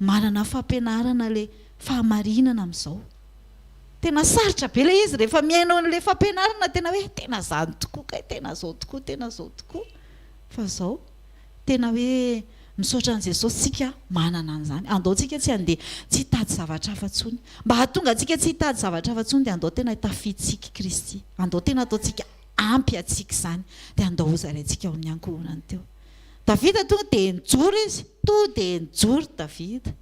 Manana fampianarana le fahamarinana amizao. Tena sarotra be le izy rehefa mihaino anle fampianarana tena hoe tena zany tokoa kay tena zao tokoa tena zao tokoa fa zao tena hoe misaotra an'i Jesosy tsika manana an'izany andao tsika tsy handeha tsy hitady zavatra hafa tsony mba hahatonga antsika tsy hitady zavatra hafa tsony dia andao tena hitafiditsika Kristy andao tena ataontsika ampy atsika izany dia andao hozaraintsika ao amin'ny ankohonany teo Davida tonga dia nijoro izy, tonga dia nijoro Davida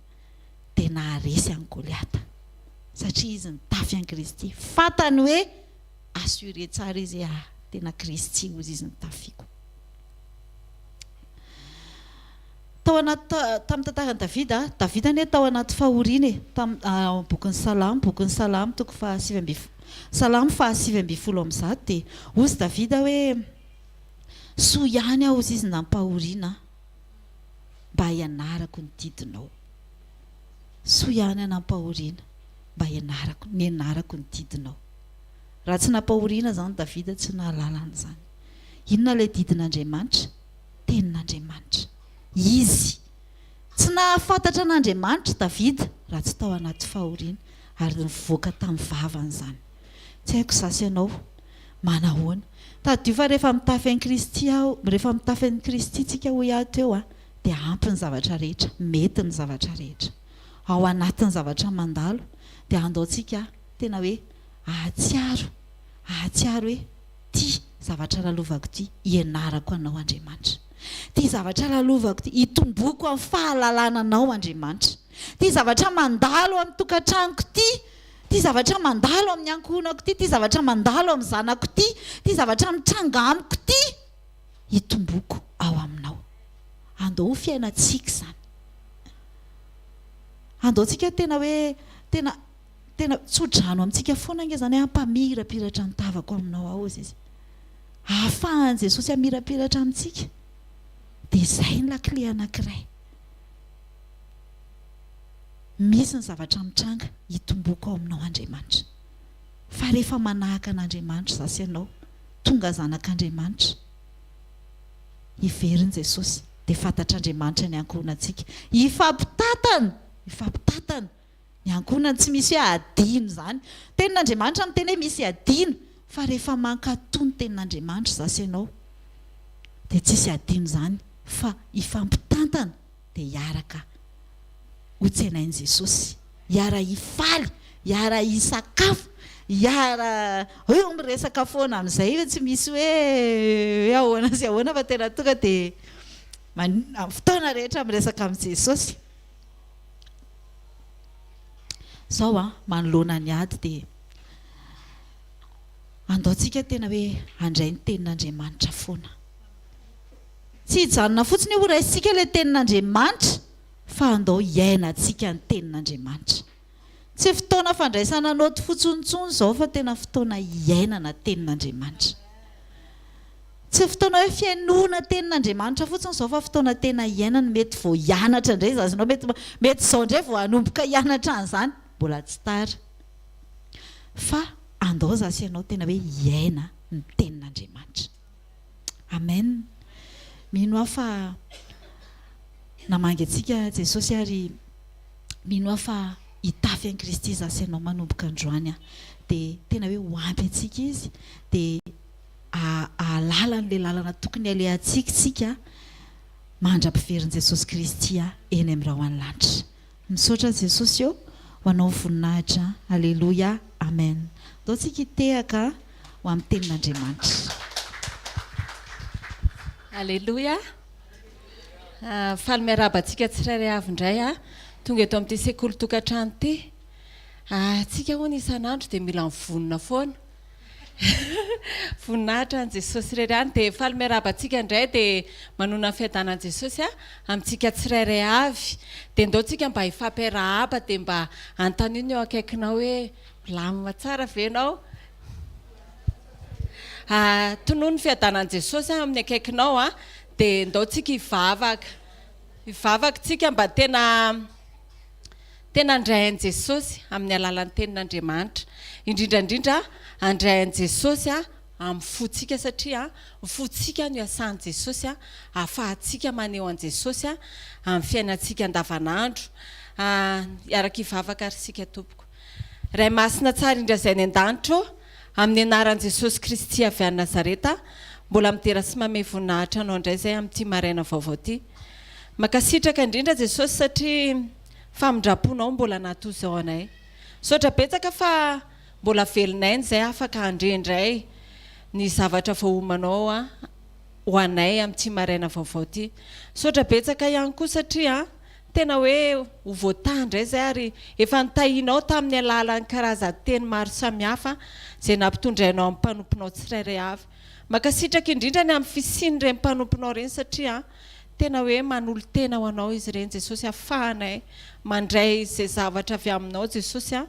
dia naharesy an'i Goliata satria izy nitafy an'i Kristy, fantany hoe assuré tsara izy hoe ah, tena Kristy hozy izy no tafiako. Tao anaty tamin'ny tantaran'i Davida, Davida anie tao anaty fahoriana e, tamin'ny ah, bokin'ny Salamo, bokin'ny Salamo toko faha sivy ambin'ny folo, Salamo faha sivy ambin'ny folo amby zato dia hozy Davida hoe Soa ihany aho ziz nampahoriana ahy mba hianarako ny didinao Soa ihany aho nampahoriana mba hianarako nianarako ny didinao Raha tsy nampahoriana aho zany Davida tsy nahalala an'izany Inona ilay didin'Andriamanitra? Tenin'Andriamanitra Izy Tsy nahafantatra an'Andriamanitra Davida raha tsy tao anaty fahoriana ary nivoaka tamin'ny vavany izany. Tsy haiko za sy ianao manahoana. Tadidio fa rehefa mitafy an'i Kristy aho, rehefa mitafy an'i Kristy tsika hoy aho teo a, dia ampy ny zavatra rehetra, mety ny zavatra rehetra. Ao anatin'ny zavatra mandalo dia andaontsika tena hoe ahatsiaro, ahatsiaro hoe ty zavatra lalovako ty, ianarako anao Andriamanitra. Ty zavatra lalovako ty, itomboako amin'ny fahalalana anao Andriamanitra. Ty zavatra mandalo amin'ny tokantranoko ty, Ity zavatra mandalo amin'ny ankohonako ity, ity zavatra mandalo amin'ny zanako ity, ity zavatra mitranga amiko ity, hitomboako ao Aminao. Andao ho fiainantsika izany. Andaontsika tena hoe, tena, tena tso-drano amintsika foana ange izany, hampamirapiratra ny tavako Aminao ao, Zezé. Ahafahan'i Jesosy hamirapiratra amintsika. Dia izay ny lakile anankiray. Misy ny zavatra mitranga hitomboako ao aminao Andriamanitra. Fa rehefa manahaka an'Andriamanitra za sy ianao, tonga zanak'Andriamanitra, heverin'i Jesosy, dia fantatr'Andriamanitra ny ankohonantsika. Hifampitatana! Hifampitatana! Ny ankohonany tsy misy hoe hadino izany. Tenin'Andriamanitra miteny hoe misy hadino, fa rehefa mankato ny tenin'Andriamanitra za sy ianao, dia tsisy hadino izany, fa hifampitantana. dia hiaraka ho tsenain'i Jesosy, hiara-hifaly, hiara-hisakafo, hiara eo miresaka foana amin'izay hoe tsy misy hoe hoe ahoana sy ahoana fa tena tonga dia amin'ny fotoana rehetra miresaka amin'i Jesosy. Izao an, manoloana ny ady dia andaontsika tena hoe handray ny tenin'Andriamanitra foana. Tsy hijanona fotsiny ho raisintsika ilay Tenin'Andriamanitra fa andao hiainantsika ny Tenin'Andriamanitra. Tsy fotoana fandraisana naoty fotsiny intsony izao fa tena fotoana hiainana Tenin'Andriamanitra. Tsy fotoana hoe fihainoana Tenin'Andriamanitra fotsiny izao fa fotoana tena hiainana, mety vao hianatra indray izany ianao, mety mety izao indray vao hanomboka hianatra an'izany, mbola tsy tara. Fa andao za sy ianao tena hoe hiaina ny Tenin'Andriamanitra. Amen! Mino aho fa namangy antsika Jesosy ary mino aho fa hitafy an'i Kristy za sy ianao manomboka androany an! Dia tena hoe ho ampy antsika Izy dia hahalala an'ilay lalana tokony halehantsika isika mandra-piverin'i Jesosy Kristy eny amin'ny rahona lanitra. Misaotra Jesosy ô ho anao voninahitra Aleloia Amen Atao tsika hitehaka ho amin'ny tenin'Andriamanitra. Aleloia Faly miarahaba antsika tsirairay avy indray a tonga eto amin'ity sekoly tokantrano ity. Atsika hono isan'andro dia mila mivonona foana. Voninahitra an'i Jesosy irery any dia faly miarahaba antsika indray dia manonona ny fiadanan'i Jesosy a amintsika tsirairay avy dia ndao tsika mba hifampiarahaba dia mba anontanio ny eo akaikinao hoe milamina tsara ve ianao a tonono ny fiadanan'i Jesosy a amin'ny akaikinao a dia ndao tsika hivavaka hivavaka tsika mba tena Tena handray an'i Jesosy amin'ny alalan'ny tenin'Andriamanitra. Indrindra indrindra handray an'i Jesosy amin'ny fontsika satria ny fontsika no iasan'i Jesosy ahafahantsika maneho an'i Jesosy amin'ny fiainantsika andavanandro. Hiara-kivavaka ary isika tompoko. Ray Masina tsara indra izay any an-danitra ô. Amin'ny anaran'i Jesosy Kristy avy any Nazareta, mbola midera sy mamehy voninahitra Anao indray izay amin'ity maraina vaovao ity. Mankasitraka indrindra Jesosy satria famindram-ponao mbola natoa izao anay. Misaotra betsaka fa mbola velonay izay hafaka handre indray ny zavatra voaomanao ho anay amin'ity maraina vaovao ity. Misaotra betsaka ihany koa satria Tena hoe ho voataha indray izay ary efa notahianao tamin'ny alalan'ny karazan-teny maro samihafa izay nampitondrainao amin'ny mpanomponao tsirairay avy. Mankasitraka indrindra ny amin'ny fisian'ireny mpanomponao ireny satria tena hoe manolo-tena ho anao izy ireny Jesosy afahanay mandray izay zavatra avy aminao Jesosy a.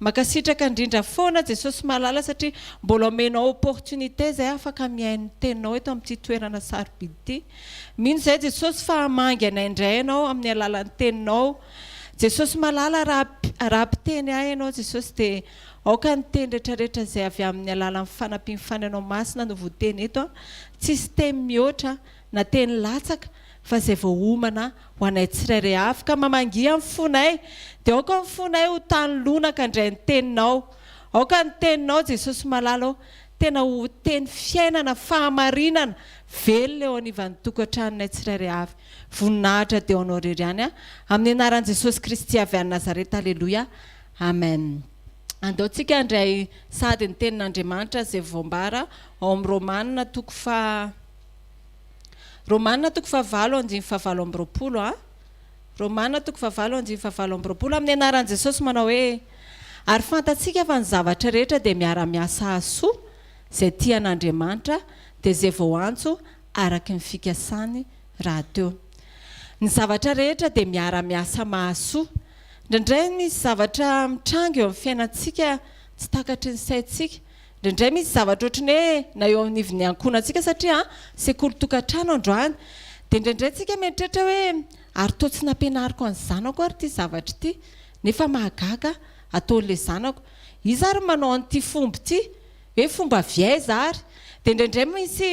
Makasitraka indrindra foana Jesosy malala satria mbola omenao opportunité zay afaka mihaino ny teninao eto amin'ity toerana sarobidy ity. Mino izahay Jesosy fa hamangy anay indray ianao amin'ny alalan'ny teninao. Jesosy malala raha raha mpiteny ahy ianao Jesosy dia aoka ny teny retraretra izay avy amin'ny alalan'ny fanampian'ny fanainao masina no voteny eto an. Tsisy temy mihoatra na teny latsaka fa izay voaomana ho anay tsirairay avy ka mamangia ny fonay dia aoka ny fonay ho tany lonaka indray ny teninao aoka ny teninao Jesosy malala ô tena ho teny fiainana fahamarinana velona eo anivan'ny tokantranonay tsirairay avy voninahitra dia ho anao irery ihany amin'ny anaran'i Jesosy Kristy avy any Nazareta aleloia amen andao tsika handray sady ny tenin'Andriamanitra izay voambara ao amin'ny Romana toko faha Romana toko fahavalo andininy fahavalo amby roapolo a Romana toko fahavalo andininy fahavalo amby roapolo Amin'ny anaran'i Jesosy manao hoe Ary fantatsika fa ny zavatra rehetra dia miara-miasa hahasoa izay tia an'Andriamanitra dia izay voantso araka ny fikasany rahateo Ny zavatra rehetra dia miara-miasa mahasoa Indraindray misy zavatra mitranga eo amin'ny fiainantsika tsy takatry ny saintsika Indraindray misy zavatra ohatry ny hoe na eo anivon'ny ankohonantsika satria sekoly tokantrano androany dia indraindray tsika mieritreritra hoe ary toa tsy nampianariko an'ny zanako ary ity zavatra ity nefa mahagaga ataon'ilay zanako iza ary no manao an'ity fomba ity hoe fomba avy aiza ary dia indraindray misy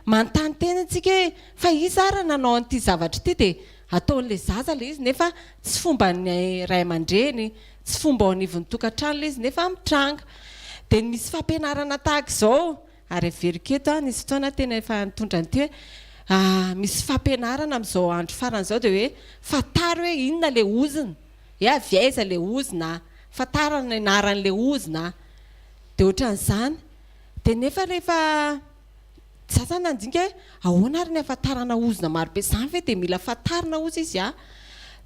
manontany tena antsika hoe fa iza ary nanao an'ity zavatra ity dia ataon'ilay zaza ilay izy nefa tsy fomban'ny ray aman-dreny Tsy fomba ao anivon'ny tokantrano ilay izy nefa mitranga. Dia ny misy fampianarana tahaka izao, ary averiko eto an, nisy fotoana aho tena efa nitondra an'ity hoe, misy fampianarana amin'izao andro farany izao dia hoe, fantaro hoe inona ilay ozona, hoe avy aiza ilay ozona a, fantaro ny anaran'ilay ozona a. Dia ohatran'izany. Dia nefa rehefa. Za zany nandinika hoe ahoana ary ny ahafantarana ozona marobe izany ve dia mila fantarina ozy izy a!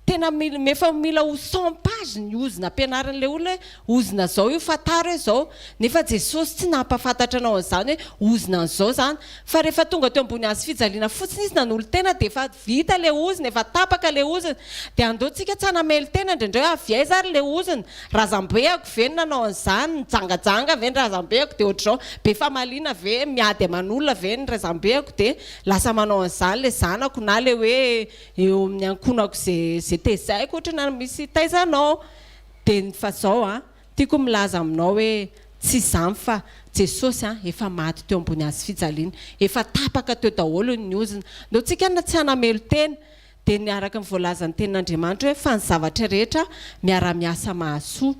Tena mila efa mila ho cent pages ny ozona ampianarin'ilay olona hoe ozona izao io fantaro hoe izao. Nefa Jesosy tsy nampahafantatra anao an'izany hoe ozona an'izao izany. Fa rehefa tonga teo ambony hazofijaliana fotsiny izy nanolo-tena dia efa Vita le ozona, efa tapaka le ozona. Dia andao tsika tsy hanamely tena indraindray hoe avy aiza ary le ozona? Razambeako ve no nanao an'izany? Nijangajanga ve ny razambeako dia ohatr'izao? Be famaliana ve? Miady aman'olona ve ny razambeako dia lasa manao an'izany le zanako na le hoe eo amin'ny ankohonako izay tezaiko ohatry ny misy taiza anao? Dia ny fa zao an! Tiako milaza aminao hoe tsy izany fa Jesosy an, efa maty teo ambony hazo fijaliana, efa tapaka teo daholo ny ozona. Ndao tsika na tsy hanamelo tena dia ny araka ny voalazan'ny tenin'Andriamanitra hoe fa ny zavatra rehetra miara-miasa mahasoa.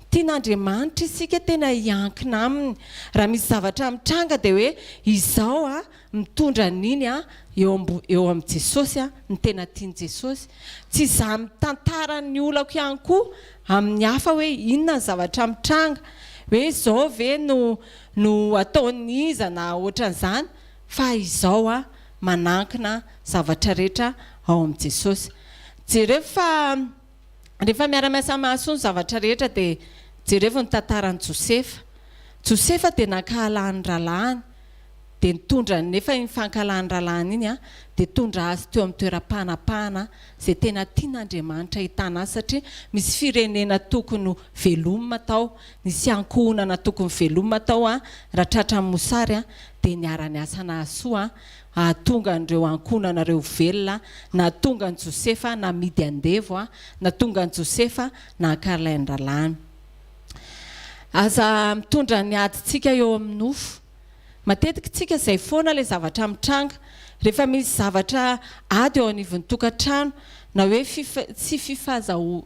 Tian'Andriamanitra isika tena hiankina aminy. Raha misy zavatra mitranga dia hoe izao an, Mitondra an'iny eo eo amin'i Jesosy ny tena tian'i Jesosy. Tsy izaho mitantara ny olako ihany koa amin'ny hafa hoe inona ny zavatra mitranga, hoe izao ve no no ataon'iza na ohatran'izany, fa izao aho manankina zavatra rehetra ao amin'i Jesosy. Jereo fa. Rehefa miara-miasa mahasoa ny zavatra rehetra dia jerevo ny tantaran'i Josefa. Josefa dia nankahala ny rahalahiny dia nitondra nefa iny fankahalany rahalahiny iny dia tondra azy teo amin'ny toeram-panapahana izay tena tian'Andriamanitra hitana azy satria misy firenena tokony velomina tao, nisy ankohonana tokony velomina tao raha tratran'ny mosary dia niara-niasa nahasoa Hahatonga an'ireo ankohonanareo velona, nahatonga an'i Josefa namidy andevo, nahatonga an'i Josefa nahakara ilay andralahany. Aza mitondra ny adintsika eo amin'ny nofo. Matetika tsika izay foana ilay zavatra mitranga. Rehefa misy zavatra ady eo anivon'ny tokantrano, na hoe tsy fifazahoana,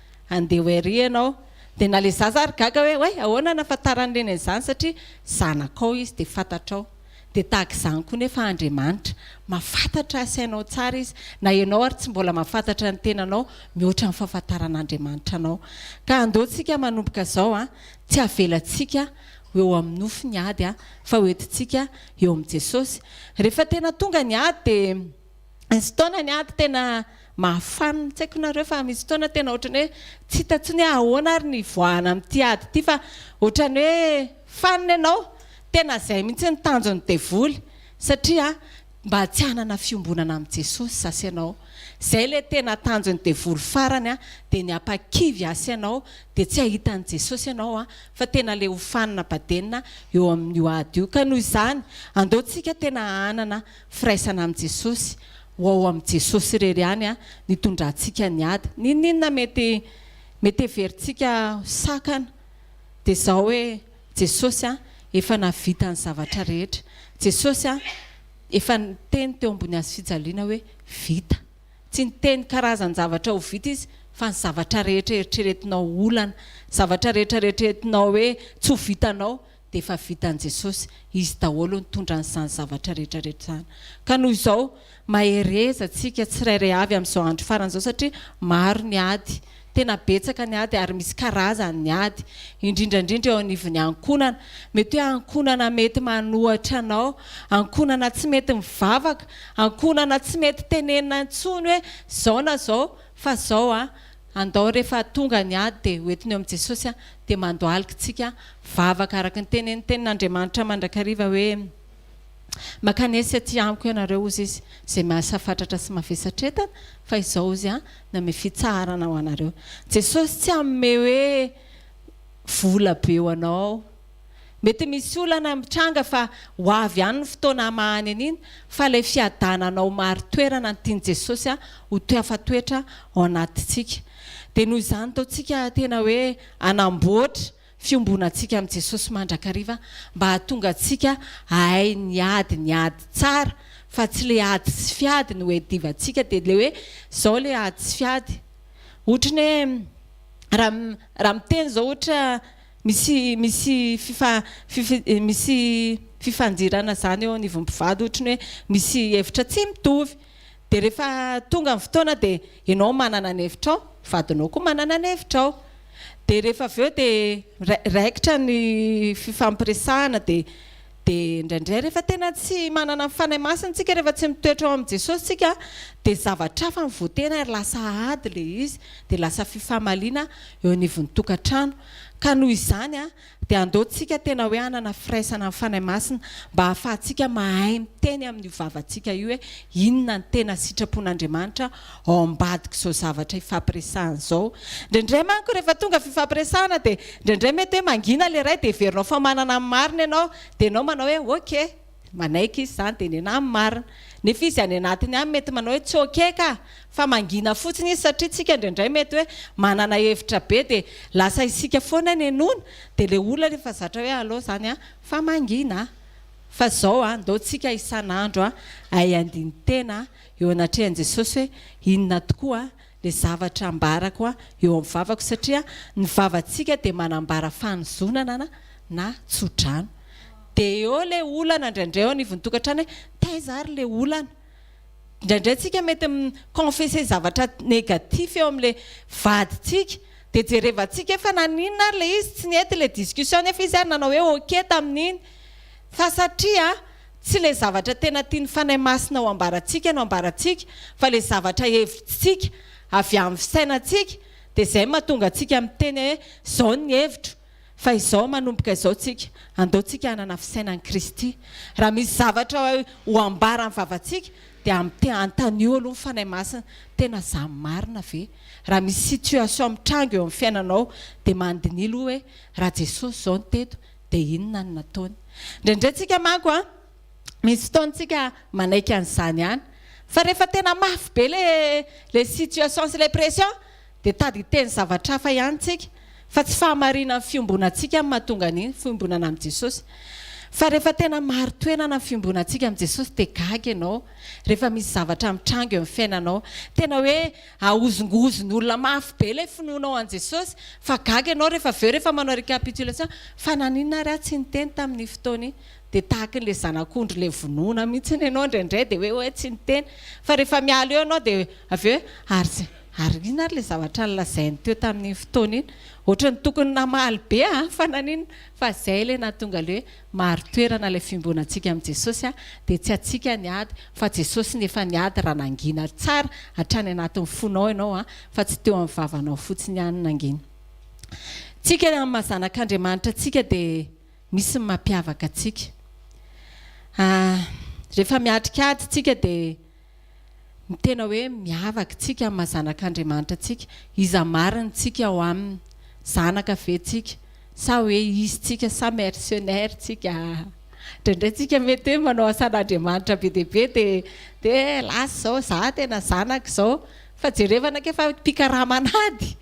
Andeha ho ery ianao. Dia na ilay zaza ary gaga hoe oay ahoana anafantaran'i reny an'izany satria zanakao izy dia fantatrao. Dia tahaka izany koa nefa Andriamanitra. Mahafantatra asainao tsara izy. Na ianao ary tsy mbola mahafantatra ny tenanao mihoatra ny fahafantaran'Andriamanitra anao. Ka andao tsika manomboka izao an, tsy avelantsika ho eo amin'ny nofo ny ady an, fa ho entintsika eo amin'i Jesosy. Rehefa tena tonga ny ady dia. Misy fotoana ny ady tena mahafaly, tsy haiko nareo fa misy fotoana tena ohatran'ny hoe tsy hita intsony hoe ahoana ary ny hivoahana amin'ity ady ity fa ohatran'ny hoe fanina ianao, tena izay mihitsy ny tanjon'ny devoly satria mba tsy hanana fiombonana amin'i Jesosy zah sy ianao, izay ilay tena tanjon'ny devoly farany dia ny hampakivy ahy sy ianao dia tsy hahita an'i Jesosy ianao fa tena ilay ho fanina badenina eo amin'io ady io, ka noho izany andao tsika tena hanana Firaisana amin'i Jesosy, ho ao amin'i Jesosy irery ihany no itondrantsika ny ady. N'inon'inona mety mety heverintsika ho sakana dia izao hoe, Jesosy efa nahavita ny zavatra rehetra. Jesosy efa niteny teo ambony hazo fijaliana hoe, vita. Tsy niteny karazan-javatra ho vita izy fa ny zavatra rehetra eritreretinao ho olana, zavatra rehetra eritreretinao hoe tsy ho vitanao, dia efa vitan'i Jesosy, Izy daholo nitondra an'izany zavatra rehetra rehetra izany. Ka noho izao, mahereza tsika tsirairay avy amin'izao andro farany izao satria maro ny ady, tena betsaka ny ady ary misy karazany ny ady, indrindra indrindra eo anivon'ny ankohonana. Mety hoe ankohonana mety manohatra anao, ankohonana tsy mety mivavaka, ankohonana tsy mety tenenina intsony hoe zao na zao fa zao an! Andao rehefa tonga ny ady dia ho entiny eo amin'i Jesosy aho dia mandohalika tsika vavaka araka ny tenen'ny tenin'Andriamanitra mandrakariva hoe Makany aici aty amiko ianareo hozy izy izay mahasafatratra sy mavesatretana fa izao hozy aho namehy fitsaharana ho anareo. Jesosy tsy hanome hoe vola be ho anao. Mety misy olana mitranga fa ho avy ihany ny fotoana hamahany an'iny fa ilay fiadanana ho marin-toerana ny tian'i Jesosy ho toeafatoetra ao anatintsika. Dia noho izany ataontsika tena hoe hanamboatra fiombonantsika amin'i Jesosy mandrakariva mba hahatonga antsika hahay niady ny ady tsara fa tsy ilay ady sy fiady no iadivantsika dia ilay hoe izao ilay ady sy fiady ohatry ny hoe raha raha miteny izao ohatra Misy misy fifa fifi misy fifandirana zany eo anivon'ny mpivady ohatry ny hoe misy hevitra tsy mitovy de rehefa tonga ny fotoana de enao manana ny hevitrao vadinao koa manana ny hevitrao de rehefa avy eo de ra raikitra ny fifampiresahana de Dia indraindray rehefa tena tsy manana ny Fanahy Masina tsika, rehefa tsy mitoetra ao amin'i Jesosy tsika, dia zavatra hafa no votena ary lasa ady ilay izy, dia lasa fifamaliana eo anivon'ny tokantrano. Ka noho izany dia andao tsika tena hoe hanana firaisana amin'ny Fanahy Masina mba hahafahantsika mahay miteny amin'io vavantsika io hoe inona ny tena sitrapon'Andriamanitra ao ambadika izao zavatra hifampiresahana izao. Indraindray manko rehefa tonga fifampiresahana dia indraindray mety hoe mangina ilay iray dia heverinao fa manana ny marina ianao dia ianao manao hoe ok, manaiky izy izany dia nenaha ny marina. Nefa izy any anatiny any mety manao hoe tsy ok ka! Fa mangina fotsiny izy satria isika indraindray mety hoe manana hevitra be dia lasa isika foana nenoina dia ilay olona efa zatra hoe allo izany an! fa mangina an! fa izao an! ndao tsika isan'andro hay handini-tena eo anatrehan'i Jesosy hoe inona tokoa ilay zavatra ambarako eo amin'ny vavako satria ny vavantsika dia manambara fanozonana na tsodrano. Dia eo ilay olana indraindray eo anivon'ny tokantrano hoe taiza ary ilay olana. Indraindray tsika mety mi confesser zavatra négatif eo amin'ilay vadintsika dia jerevantsika hoe fa naninona ary ilay izy tsy nety ilay discussion nefa izy ary nanao hoe ok tamin'iny fa satria Tsy ilay zavatra tena tian'ny Fanahy Masina ho ambarantsika no ambarantsika fa ilay zavatra hevitsintsika avy amin'ny fisainantsika dia izay mahatonga antsika miteny hoe izao ny hevitro fa izao manomboka izao tsika andao tsika hanana fisainan'i Kristy raha misy zavatra ho ambaran'ny vavantsika dia amte antanio aloha ny Fanahy Masina tena zany marina ve raha misy situation mitranga eo amin'ny fiainanao dia mandiniha aloha hoe raha Jesosy izao no teto dia inona no nataony? Indraindray tsika manko an, misy fotoana tsika manaiky an'izany ihany, fa rehefa tena mafy be le le situation sy le pression dia tady hiteny zavatra hafa ihany tsika, fa tsy fahamarinan'ny fiombonantsika no mahatonga an'iny fiombonana amin'i Jesosy, fa rehefa tena marin-toenana ny fiombonantsika amin'i Jesosy dia gaga ianao rehefa misy zavatra mitranga eo amin'ny fiainanao, tena hoe Ahozongozon olona mafy be ilay finoanao an'i Jesosy fa gaga ianao rehefa avy eo rehefa manao recapitulation fa naninona ary aho tsy niteny tamin'iny fotoana iny dia tahakin'ilay zanak'ondry ilay vonoina mihitsy ianao indraindray dia hoe hoe tsy niteny fa rehefa miala eo ianao dia avy eo hoe ary ary inona ary ilay zavatra nolazainy teo tamin'iny fotoana iny ohatran'ny tokony namaly be aho fa naninona fa izay ilay nahatonga ilay hoe Marin-toerana ilay fiombonantsika amin'i Jesosy a, dia tsy antsika ny ady fa Jesosy no efa niady raha nangina tsara hatrany anatin'ny fonao ianao a, fa tsy teo amin'ny vavanao fotsiny ihany nangina. Tsika amin'ny maha zanak'Andriamanitra antsika dia misy ny mampiavaka antsika. Rehefa miatrika ady tsika dia. Tena hoe miavaka isika amin'ny maha zanak'Andriamanitra antsika. Iza marina isika ao aminy? Zanaka ve isika? Sa hoe izy isika sa mercenaires isika? Indraindray isika mety hoe manao asan'Andriamanitra be dia be dia dia hoe lasa izao za tena zanaka izao. Fa jereva anake fa mpikarama an'ady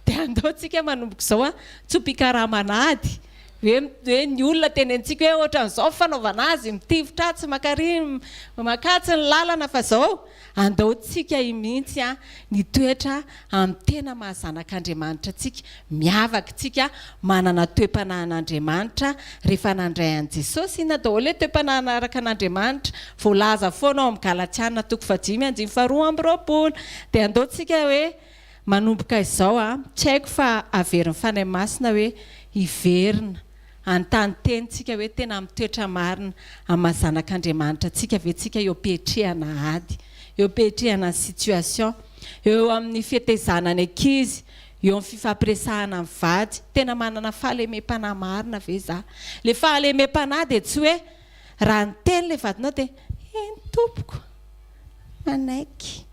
dia andao isika manomboka izao tsy ho mpikarama an'ady. Hoe hoe ny olona teny antsika hoe ohatran'izao ny fanaovana azy, mitifitra atsy maka ary, maka atsy ny lalana fa izao, andaotsika i mihitsy an, ny toetra amin'ny tena maha zanak'Andriamanitra antsika, miavaka isika, manana toe-panahin'Andriamanitra, rehefa nandray an'i Jesosy, inona daholo ilay toe-panahy nanaraka an'Andriamanitra, voalaza foana ao amin'ny Galatiana toko fahadimy andininy faharoa amby roapolo, dia andaotsika hoe. Manomboka izao aho, tsy haiko fa haverin'ny Fanahy Masina hoe hiverina, hanontany teny tsika hoe tena mitoetra marina amin'ny maha zanak'Andriamanitra antsika ve tsika eo am-piatrehana ady, eo am-piatrehana ny situation, eo amin'ny fetezana ny ankizy, eo amin'ny fifampiresahana ny vady, tena manana fahalemem-panahy marina ve za? Ilay fahalemem-panahy dia tsy hoe. Raha niteny ilay vadinao dia eny tompoko, manaiky,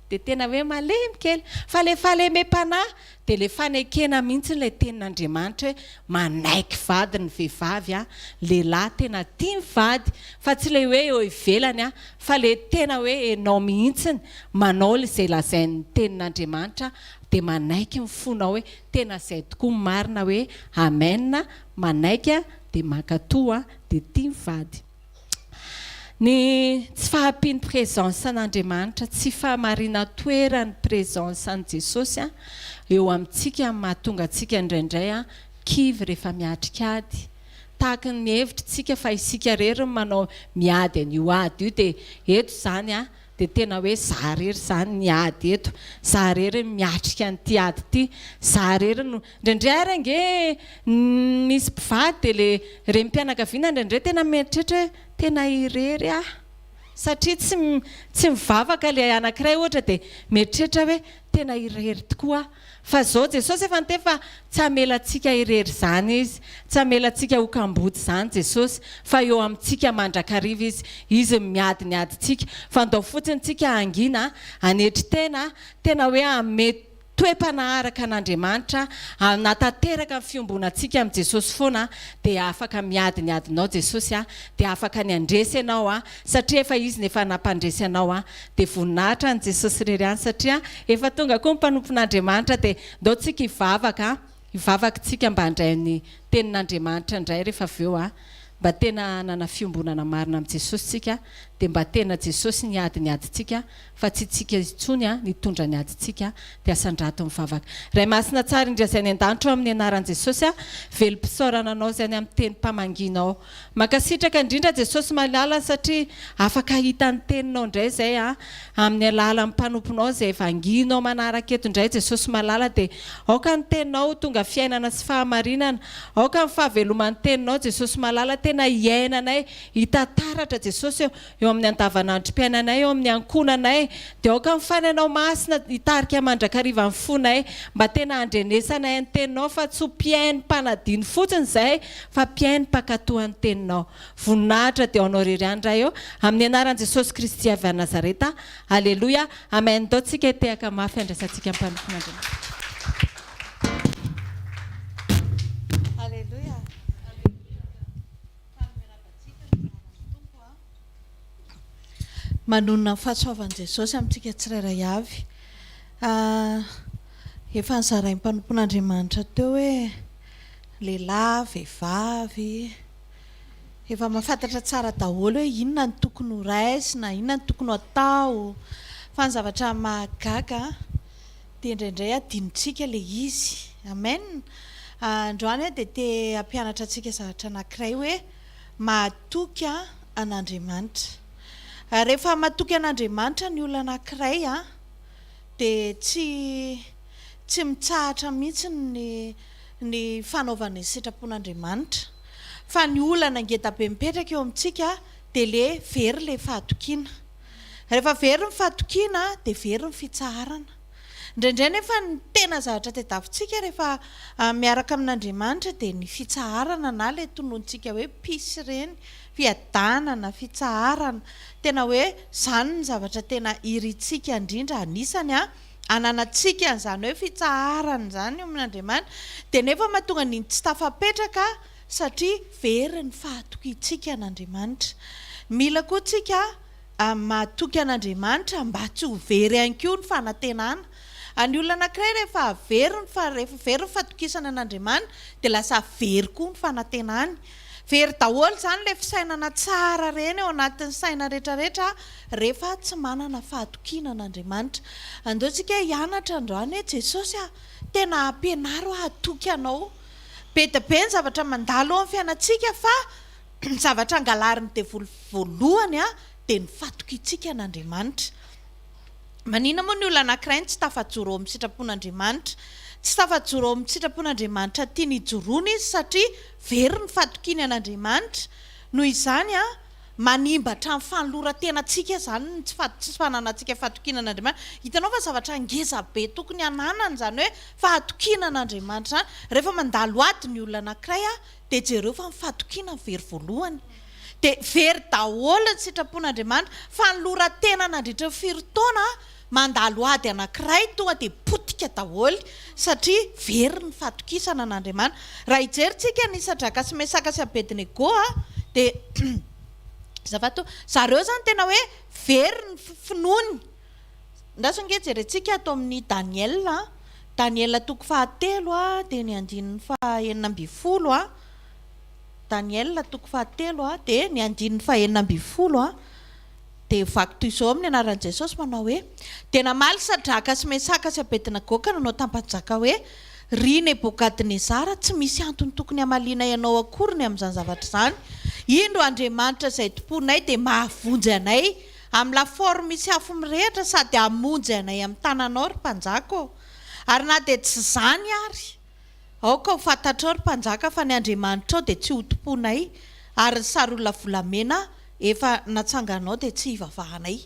dia tena hoe malemy kely. Fa ilay fahalemem-panahy dia ilay fanekena mihitsy ilay tenin'Andriamanitra hoe manaiky vadiny ny vehivavy an, lehilahy tena tia ny vady fa tsy ilay hoe eo ivelany an, fa ilay tena hoe enao mihitsy manao izay lazain'ny tenin'Andriamanitra dia manaiky ny fonao hoe tena izay tokoa ny marina hoe amen, manaiky dia mankatoa an. dia tia mivady. Ny tsy fahampian'ny presence an'Andriamanitra, tsy fahamarinan-toeran'ny presence an'i Jesosy eo amintsika no mahatonga antsika indraindray kivy rehefa miatrika ady. Tahaka ny mihevitry tsika fa isika irery no manao miady an'io ady io dia eto izany dia tena hoe za irery izany ny ady eto, za irery no miatrika an'ity ady ity, za irery no. Indraindray ary ange ny misy mpivady dia le renim-pianakaviana indraindray tena mieritreritra hoe tena irery aho satria tsy tsy mivavaka le anankiray ohatra dia mieritreritra hoe tena irery tokoa aho fa zao Jesosy efa niteny fa tsy hamela antsika irery izany izy tsy hamela antsika ho kamboty izany Jesosy fa eo amintsika mandrakariva izy izy no miady ny adintsika fa ndao fotsiny tsika hangina hanetry tena tena hoe hanome toe-panaraka an'Andriamanitra hanatanteraka ny fiombonantsika amin'i Jesosy foana dia afaka miady ny adinao Jesosy a dia afaka ny handresy ianao a satria efa izy ny efa nampandresy anao a dia voninahitra any Jesosy irery any satria efa tonga koa ny mpanompon'Andriamanitra dia ndao tsika hivavaka Hivavaka tsika mba handray ny tenin'Andriamanitra indray rehefa avy eo a! Mba tena hanana fiombonana marina amin'i Jesosy tsika dia mba tena Jesosy ny ady ny adintsika fa tsy tsika intsony a! nitondra ny adintsika dia asandrato mivavaka. Ray Masina Tsara indry Azay any an-danitra ao amin'ny anaran'i Jesosy a! Velom-pisaorana anao izay any amin'ny tenim-pamangianao. Mankasitraka indrindra Jesosy malala satria afaka ahita ny teninao indray izay a! amin'ny alalan'ny mpanomponao izay vangianao manaraka eto indray Jesosy malala dia aoka ny teninao ho tonga fiainana sy fahamarinana aoka ny fahaveloman'ny teninao Jesosy malala tena hiainanay hita taratra Jesosy ô! eo amin'ny andavanandrom-piainanay, eo amin'ny ankohonanay, dia aoka ny fainanao masina hitarika mandrakariva ny fonay, mba tena handrenesanay ny Teninao, fa tsy ho mpihaino mpanadino fotsiny izahay, fa mpihaino mpankatò an'ny Teninao. Voninahitra dia ho Anao irery ihany, Ray ô, amin'ny anaran'i Jesosy Kristy avy any Nazareta. Aleloia. Amen. Ndao tsika hitehaka mafy handraisantsika ny mpanompon'Andriamanitra. Aleloia. Manonona ny fahasoavan'i Jesosy amintsika tsirairay avy. Efa nozarain'ny mpanompon'Andriamanitra teo hoe lehilahy, vehivavy, efa mahafantatra tsara daholo hoe inona no tokony ho raisina, inona no tokony ho atao. Fa ny zavatra mahagaga Dia indraindray adinontsika ilay izy. Amen. Androany aho dia te hampianatra antsika zavatra anankiray hoe mahatoky an'Andriamanitra. Rehefa matoky an'Andriamanitra ny olona anankiray dia tsy tsy mitsahatra mihitsy ny ny fanaovana ny sitrapon'Andriamanitra. Fa ny olana ngeda be mipetraka eo amintsika dia le very ilay fahatokiana. Rehefa very ny fahatokiana dia very ny fitsaharana. Indraindray nefa ny tena zavatra tadiavintsika rehefa miaraka amin'Andriamanitra dia ny fitsaharana na ilay tonontsika hoe peace ireny, fiadanana, fitsaharana. Tena hoe izany no zavatra tena irintsika indrindra, anisany ananantsika an'izany hoe fitsaharana izany eo amin'Andriamanitra dia nefa mahatonga ny tsy tafapetraka. satria very ny fahatokiantsika an'Andriamanitra. Mila koa tsika mahatoky an'Andriamanitra mba tsy ho very ihany koa ny fanantenana. Ny olona anankiray rehefa very ny rehefa very ny fatokisany an'Andriamani dia lasa very koa ny fanantenany. Very daholo izany ilay fisainana tsara ireny ao anatin'ny saina rehetra rehetra rehefa tsy manana fahatokiana an'Andriamanitra. Andao tsika hianatra androany hoe Jesosy a, tena ampianaro aho hatoky anao. Be dia be ny zavatra mandalo eo amin'ny fiainantsika fa ny zavatra angalarin'ny devoly voalohany dia ny fatokiantsika an'Andriamanitra. Manina moa ny olona anankiray no tsy tafajoro eo amin'ny sitrapon'Andriamanitra? Tsy tafajoro eo amin'ny sitrapon'Andriamanitra tiany hijoroana izy satria very ny fatokiany an'Andriamanitra. Noho izany, Manimba hatramin'ny fanoloran-tenantsika izany ny tsy fananantsika fahatokiana an'Andriamanitra. Hitanao fa zavatra ngeza be tokony hananana izany hoe fahatokiana an'Andriamanitra izany. Rehefa mandalo ady ny olona anankiray dia jereo fa ny fahatokiana no very voalohany. Dia very daholo ny sitrapon'Andriamanitra. Fanoloran-tena nandritry ny firy taona? Mandalo ady anankiray tonga dia potika daholo satria very ny fahatokisana an'Andriamanitra. Raha hijerintsika an'i Sadraka sy Mesaka sy Abednego dia zava toa zareo zany tena hoe very ny finoany. Andraso ange jerentsika ato amin'ny Daniel, Daniel toko fahatelo dia ny andininy faha enina ambin'ny folo, Daniel toko fahatelo dia ny andininy faha enina ambin'ny folo. Dia vaky toy izao amin'ny anaran'i Jesosy manao hoe, Dia namaly Sadraka sy Mesaka sy Abednegoka nanao tampa-jaka hoe, Ry Nebokadnezara, tsy misy antony tokony hamalianay anao akory ny amin'izany zavatra izany. Indro Andriamanitra izay tompoinay dia mahavonjy anay amin'ny lafaoro misy afo mirehitra sady hamonjy anay amin'ny tananao, ry mpanjaka ô. Ary na dia tsy izany ary. Aoka ho fantatrao, ry mpanjaka, fa ny andriamanitrao dia tsy hotompoinay, ary ny sarolona volamena efa natsanganao dia tsy hivavahanay.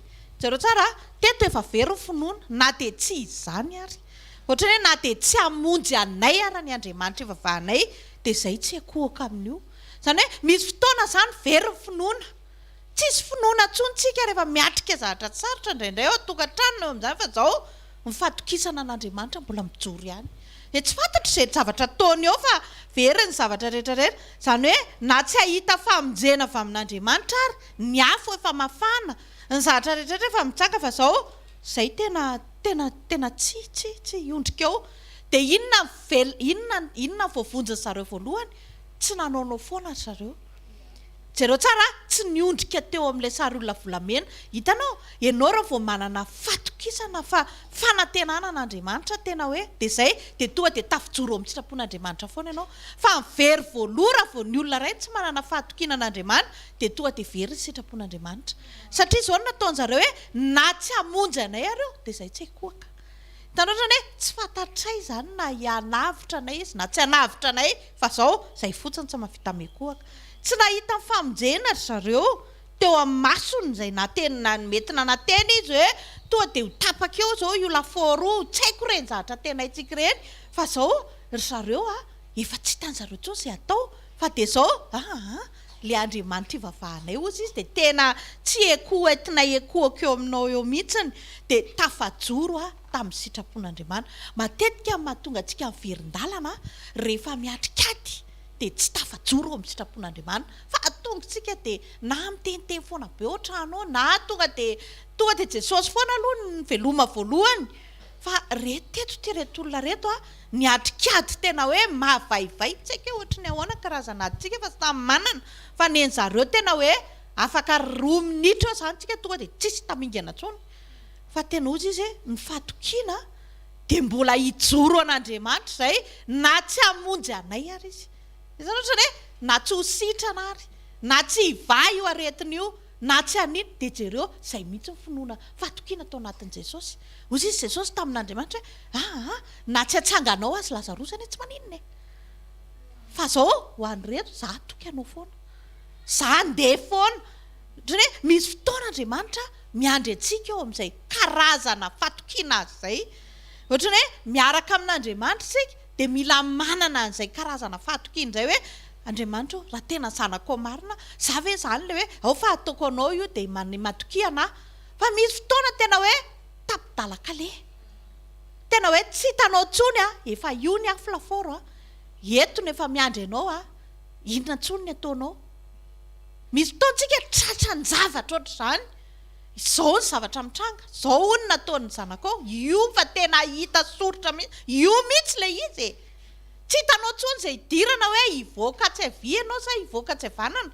Jereo tsara a! Teto efa very ny finoana, na dia tsy izany ary. Hoatran'ny hoe na dia tsy hamonjy anay ara ny andriamanitra ivavahanay, dia izay tsy hikohaka amin'io. Izany hoe, misy fotoana izany very ny finoana. Tsisy finoana intsony isika rehefa miatrika zavatra sarotra indraindray ao an-tokantrano, eo amin'izany, fa izao. Ny fahatokisana an'Andriamanitra mbola mijoro ihany. Dia tsy fantatro izay zavatra ataony eo fa very ny zavatra rehetra rehetra. Izany hoe na tsy hahita famonjena avy amin'Andriamanitra ary, ny afo efa mafana, ny zavatra rehetra rehetra efa mitsanga fa izao, izay tena, tena, tena tsy, tsy, tsy hiondrika eo. Dia inona vel, inona, inona voavonjy zareo voalohany? Tsy nanaonao foana ry zareo. Jereo tsara a! Tsy niondrika teo amin'ilay sary olona volamena. Hitanao? Ianao raha vao manana fatokisana fa fanantenana an'Andriamanitra tena hoe dia izay, dia tonga dia tafijoro eo amin'ny sitrapon'Andriamanitra foana ianao. Fa ny very voaloha raha vao ny olona iray tsy manana fahatokiana an'Andriamani dia tonga dia very ny sitrapon'Andriamanitra. Satria izao no nataon-dry zareo hoe na tsy hamonjy anay ary io dia izay tsy haikoaka. Hitanao izany hoe tsy fantatray izany na hianavotra anay izy na tsy hanavotra anay Fa zao zay fotsiny tsy mavita mekohaka. Tsy nahita ny famonjena ry zareo teo amin'ny masony zay nateny na mety nanantena izy hoe toa dia ho tapaka eo zao io lafaoro io tsy haiko ireny zavatra antenaintsika ireny fa zao ry zareo a efa tsy hitan'i zareo intsony zay atao fa dia zao aa le Andriamanitra ivavahanay hozy izy dia tena tsy ekoho entina ekohako eo aminao eo mihitsiny dia tafajoro aho tamin'ny sitrapon'Andriamanitra. Matetika ny mahatonga antsika miverin-dalana rehefa miatrika ady dia tsy tafajoro eo amin'ny sitrapon'Andriamanitra fa atongontsika dia na miteniteny foana be ohatrano na tonga dia tonga dia Jesosy foana aloha no veloma voalohany fa re teto ity reto olona reto a niatrika ady tena hoe mavaivay tsy haiko hoe ohatry ny ahoana karazana adintsika fa samy manana fa nen'zareo tena hoe afaka roa minitra eo zany tsika tonga dia tsisy tamingana tsony Fa tena ozy izy e, ny fatokiana dia mbola hijoro an'Andriamanitra izay na tsy hamonjy anay ary izy. Izany ohatrany hoe na tsy ho sitrana ary, na tsy hivaha io aretina io, na tsy hanino, dia jereo izay mihitsy ny finoana, fatokiana tao anatin'i Jesosy. Ozy izy Jesosy tamin'Andriamanitra hoe aa na tsy atsanganao azy Lazarosy anie tsy maninona e. Fa izao ho an'ireto za hatoky anao foana. Za handeha foana. Ohatrany hoe misy fotoana Andriamanitra. Miandry antsika ao amin'izay karazana fatokiana azy izay. Ohatran'ny hoe miaraka amin'Andriamanitra isika dia mila manana an'izay karazana fahatokiana izay hoe, Andriamanitra ô, raha tena zanakao marina aho, izaho ve izany ilay hoe ao fa ataoko anao io dia man- matokia anà? Fa misy fotoana tena hoe tapi-dalan-kaleha. Tena hoe tsy hitanao intsony aho, efa io ny afo lafaoro an, eto no efa miandry anao an, inona intsony ny ataonao? Misy fotoantsika tratran-javatra ohatr'izany, izao ny zavatra mitranga, izao hono nataon'ny zanakao, io fa tena hita soritra mihitsy, io mihitsy ilay izy e! Tsy hitanao intsony izay hidirana hoe hivoaka tsy havia ianao sa hivoaka tsy havanana,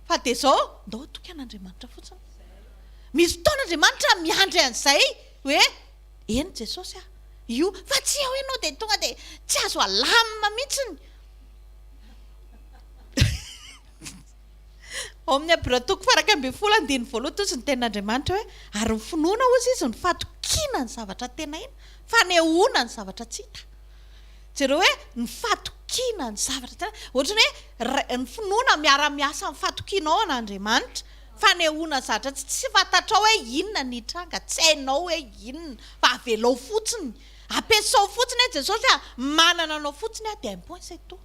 fa dia izao, ndao hatoky an'Andriamanitra fotsiny. Misy fotoana Andriamanitra miandry an'izay hoe eny Jesosy a! io, fa tsy eo ianao dia tonga dia tsy azo alamina mihitsy ny Ao amin'ny Hebrea toko faha-iraika ambin'ny folo andininy voalohany tojo ny tenin'Andriamanitra hoe, Ary ny finoana, hozy izy, no fatokiana ny zavatra tenaina, fanehoana ny zavatra tsy hita. Jereo hoe ny fatokiana ny zavatra tenaina. Ohatran'ny hoe ny finoana miara-miasa amin'ny fatokianao an'Andriamanitra, fanehoana ny zavatra tsy tsy fantatrao hoe inona ny hitranga, tsy hainao hoe inona, fa avelao fotsiny. Ampiasao fotsiny hoe Jesosy a, manana anao fotsiny aho dia un point c'est tout.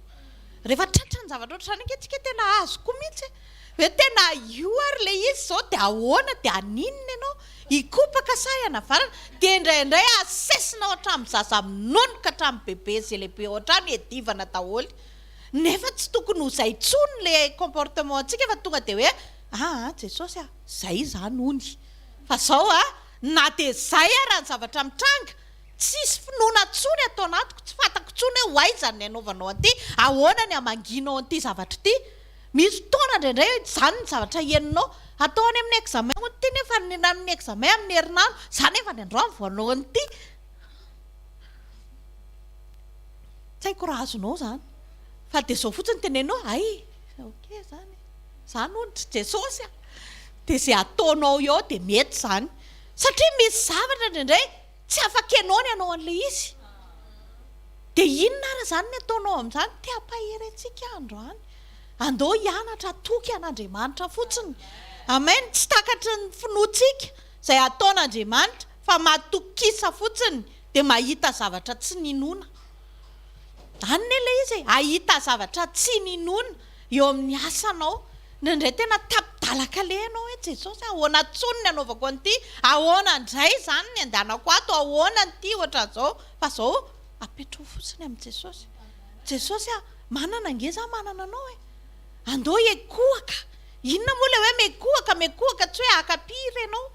Rehefa tratra ny zavatra ohatr'izany ange tsika tena azo koa mihitsy hoe tena io ary ilay izy izao dia ahoana dia haninona ianao? Hikopaka sa hianavarana? Dia indraindray asesina ao an-trano zaza amin'ny nono ka hatramin'ny bebe sy lehibe ao an-trano hiadivana daholo nefa tsy tokony ho izay intsony ilay comportement antsika fa tonga dia hoe aa Jesosy a! izay izany hono fa izao a! na dia izay ara ny zavatra mitranga Tsisy finoana tsony ato anatiko, tsy fantako tsony hoe oaiza ny anaovanao an'ity, ahoana ny amangianao an'ity zavatra ity, misy fotoana indraindray hoe tsy izany ny zavatra henonao, atao any amin'ny examen hono ity nefa ny amin'ny examen amin'ny herinandro, za nefa ny androany vao hanao an'ity, tsy haiko raha azonao izany, fa dia izao fotsiny teneno hoe hay ok izany, za hono dry Jesosy a, dia izay ataonao eo dia mety izany, satria misy zavatra indraindray. Tsy afaka ianao ny hanao an'ilay izy. Dia inona ary izany ny ataonao amin'izany? Te hampahery antsika aho androany. Andao hianatra hatoky an'Andriamanitra fotsiny. Amen. Tsy takatry ny finoantsika izay ataon'Andriamanitra, fa matokisa fotsiny dia mahita zavatra tsy ninoana. Any ne ilay izy e, hahita zavatra tsy ninoana. Eo amin'ny asanao, indraindray tena tapi-dalan-kaleha ianao hoe, Jesosy a, ahoana intsony ny anaovako an'ity? Ahoana indray izany ny andehanako ato? Ahoana ity hoatran'izao? Fa izao, apetraho fotsiny amin'i Jesosy. Jesosy a, manana ange izaho manana anao e! Andao hiekohaka. Inona moa ilay hoe miekohaka? Miekohaka tsy hoe haka pire ianao,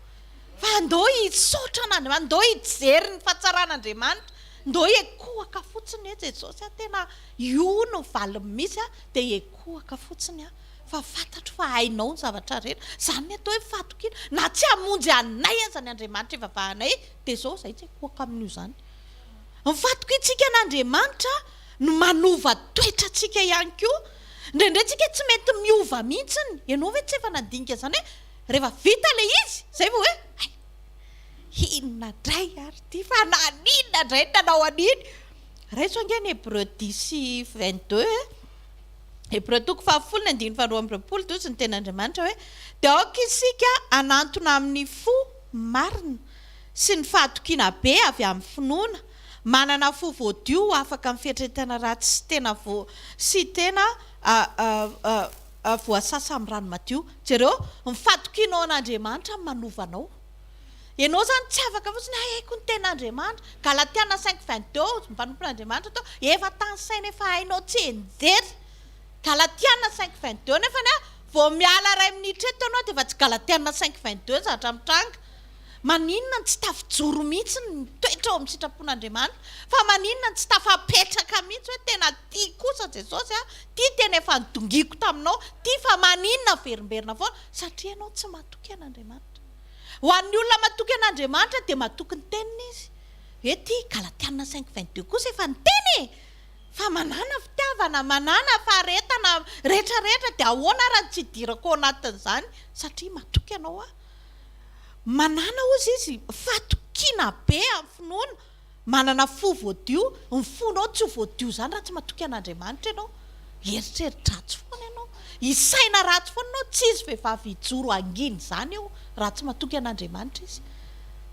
fa andao hisaotra an'Andriamanitra, andao hijery ny fahatsaran'Andriamanitra, andao hiekohaka fotsiny hoe, Jesosy a, tena. Io no valiny mihitsy a! Dia hekohaka fotsiny aho fa fantatro fa hainao ny zavatra rehetra. Izany ny atao hoe fahatokiana. Na tsy hamonjy anay aza ny Andriamanitra ivavahanay dia izao izahay tsy hekohaka amin'io izany. Ny fahatokiantsika an'Andriamanitra no manova toetra antsika ihany koa. Indraindray tsika tsy mety miova mihitsiny. Ianao ve tsy efa nandinika izany hoe rehefa vita ilay izy izay vao hoe hay! inona indray ary ity fa naninona indray no nanao an'iny? Raiso ange ny Hebreo dix sy vingt deux e! Hebreo toko fahafolo ny andininy faharoa amby roapolo dia hoy izy ny Tenin'Andriamanitra hoe, Dia aoka isika hanantona amin'ny fo marina sy ny fahatokiana be avy amin'ny finoana, manana fo voadio ho afaka amin'ny fieritreretana ratsy sy tena sy tena voasasa amin'ny rano madio. Jereo ny fahatokianao an'Andriamanitra no manova anao. Ianao izany tsy afaka fotsiny haiko ny ten'Andriamanitra. Galatiana cinq vingt deux, ny mpanompon'Andriamanitra atao efa tany saina efa hainao tsienjery. Galatiana cinq vingt deux nefa ny vao miala iray minitra eto ianao dia efa tsy Galatiana cinq vingt deux ny zavatra mitranga. Maninona no tsy tafijoro mihitsy ny toetra ao amin'ny sitrapon'Andriamanitra? Fa maninona no tsy tafapetraka mihitsy hoe tena tia kosa Jesosy aho, tia tena efa nodongiako taminao, tia fa maninona averimberina foana? Satria ianao tsy matoky an'Andriamanitra. Ho an'ny olona matoky an'Andriamanitra dia matoky ny teniny izy. Hoe ty Galatiana cinq vingt deux kosa efa niteny e! Fa manana fitiavana, manana faharetana rehetra rehetra dia ahoana ary tsy hidirako ao anatin'izany satria matoky ianao aho. Manana hozy izy fatokiana be amin'ny finoana. Manana fo voadio, ny fonao tsy ho voadio izany raha tsy matoky an'Andriamanitra ianao. Eritreri-dratsy foana ianao. Hisaina ratsy foana ianao. Tsy hisy vehivavy hijoro hangina izany eo raha tsy matoky an'Andriamanitra izy.